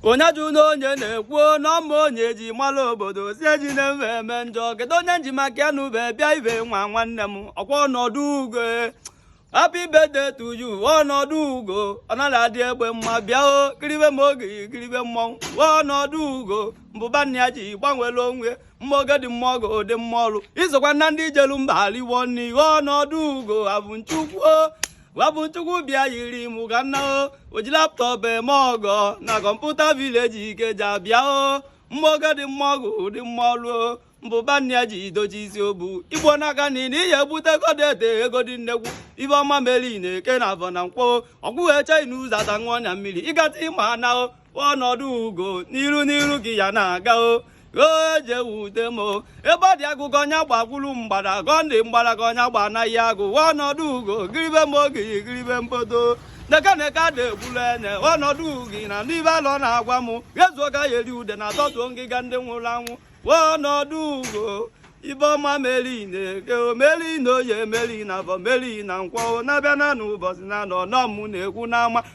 onye jụ na onye na-ekwu n'ọma onye ji mara obodo si eji na mfe eme njọ kedu onye nji maka ya na ube bịa ibe nwa nwanne m ọkwa ọnọdụ ugo happy birthday to you ọnọdụ ugo ọ naghị adị egbe mma bịa o kiribe m oge kiribe mmọnwụ ọnọdụ ugo mbụba nna ya ji gbanwere onwe mma oge dị mma ọgụ dị mma ọrụ izokwa na ndị ijelu mba aliwonne ihe ọnọdụ ugo abụ nchukwu gwa bụ nchukwu bịa yiri mụ ga nna o ji laptop eme ọgọ na computer village ikeja bịa o mma oge dị mma ọgụ dị mma ọlụ o mbụba nna ya ji dochi isi obu igbo n'aka na ị na ihe ebute godete ego dị nnekwu ibe ọma meri na eke na avọ na nkwọ ọgwụ eche na ụzọ ata nwa ọnya mmiri ịgata ịma anahụ ọnọdụ ugo n'iru n'iru gị ya na-aga o oje wude m ebe ọ dị agụgọ ọnya gbagburu mgbada gọndị mgbada ka ọnya gba anaghị agụ ọnọdụ ugo kiribe m oge kiribe mbodo neke neke ada egbulu enye ọnọdụ ugo na ndị be alọ na-agwa m ezuo ka ya eri udene atọtuo ngịga ndị nwụrụ anwụ ọnọdụ ugo ibe ọma meri na-eke omeri na oye meri na avọ meri na nkwọ na-abịa na n'ụbọchị n'anọ nọ m na-ekwu n'ama